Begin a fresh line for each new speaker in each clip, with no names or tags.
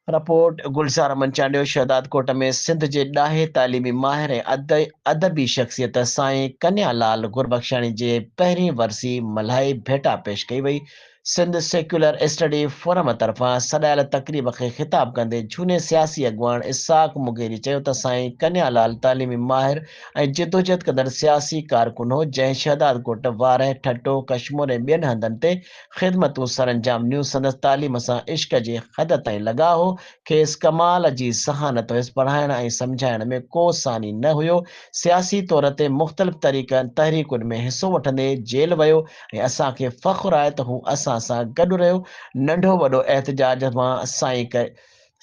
Report, Gulzar Aman Chandio Shahdadkot ۾ Sindh جي ڏاهي تعليمي ماهر ۽ ادبي شخصيت سائين ڪنيا لال گربخشاڻي جي پهرين ورسي ملهائي ڀيٽا پيش ڪئي وئي. سنڌ سيڪيولر اسٽڊي فورم طرفان سڏايل تقريب کي خطاب ڪندي جھوني سياسي اڳواڻ اسحاق مغيري چيو ته سائين ڪنيا لال تعليمي ماهر ۽ جدوجھد ڪندڙ سياسي ڪارڪن هو جنهن شهدادڪوٽ، وارهه، ٺٽو، ڪشمور ۽ ٻين هنڌن تي خدمتون سرانجام ڏنيون، سندس تعليم سان عشق جي حد تائين لڳاء هو، کيس ڪمال جي ذهانت هيس، پڙهائڻ ۽ سمجهائڻ ۾ ڪو ثاني نه هيو، سياسي طور تي مختلف طريقن تحريڪن ۾ حصو وٺندي جيل ويو ۽ اسان کي فخر آهي ته هو اسان سان گڏ رهيو، ننڍو وڏو احتجاج مان سائين ڪري.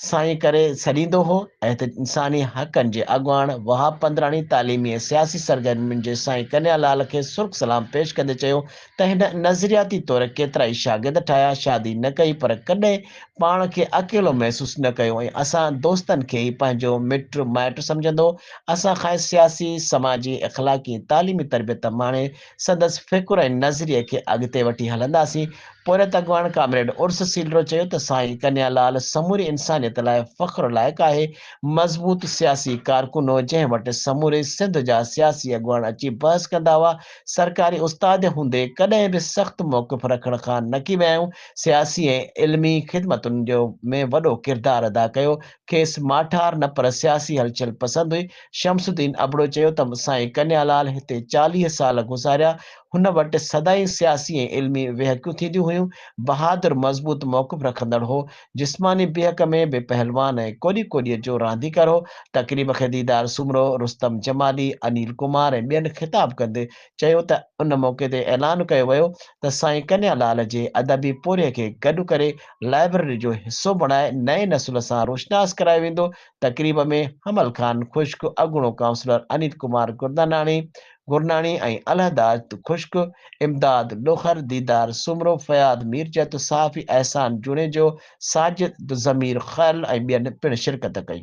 سائين ڪري سڏيندو هو ۽ هتي انساني حقن جي اڳواڻ وهاب پندراڻي تعليمي ۽ سياسي سرگرمين جي سائين ڪنيا لال کي سرخ سلام پيش ڪندي چيو ته هن نظرياتي طور ڪيترائي شاگرد ٺاهيا، شادي نه ڪئي پر ڪڏهن پاڻ کي اڪيلو محسوس نه ڪيو ۽ اسان دوستن کي ئي پنهنجو مٽ مائٽ سمجهندو هو، اسان کانئس سياسي، سماجي، اخلاقي ۽ تعليمي تربيت ماڻي سندس فڪر ۽ نظريي کي اڳتي وٺي هلنداسين. پورهيت اڳواڻ ڪامريڊ عرس سيلرو چيو ته سائين ڪنيا لال سموري انسانيت لاء فخر لائق آهي، مضبوط سياسي ڪارڪن هو جنهن وٽ سموري سنڌ جا سياسي اڳواڻ اچي بحث ڪندا هئا، سرڪاري استاد هوندي ڪڏهن به سخت موقف رکڻ کان نڪي ويائون، سياسي ۽ علمي خدمتن جو ۾ وڏو ڪردار ادا ڪيو، کيس ماٺار نه پر سياسي هلچل پسند هئي، شمس الدين ابڙو چيو ته سائين ڪنيا لال هتي چاليهه سال گذاريا، هن وٽ سدائين سياسي ۽ علمي ويهڪيون ٿينديون هيون، بهادر مضبوط موقف رکندڙ هو، جسماني بيهڪ ۾ به پهلوان ۽ ڪوڏي ڪوڏيء جو رانديڪر هو، تقريب کي ديدار سومرو، رستم جمالي، انيل ڪمار ۽ ٻين خطاب ڪندي چيو ته ان موقعي تي اعلان ڪيو ويو ته سائين ڪنيا لال جي ادبي پورهيي کي گڏ ڪري لائبرري جو حصو بڻائي نئين نسل سان روشناس ڪرايو ويندو تقريب ۾ حمل خان خشڪ، اڳوڻو ڪائونسلر انيل ڪمار گرداناڻي، گرناڻي ۽ علحداد خشڪ، امداد لوخر، ديدار سومرو، فياض ميرجت، صحافي احسان جوڻيجو، ساجد ضمير خل ۽ ٻين پڻ شرڪت ڪئي.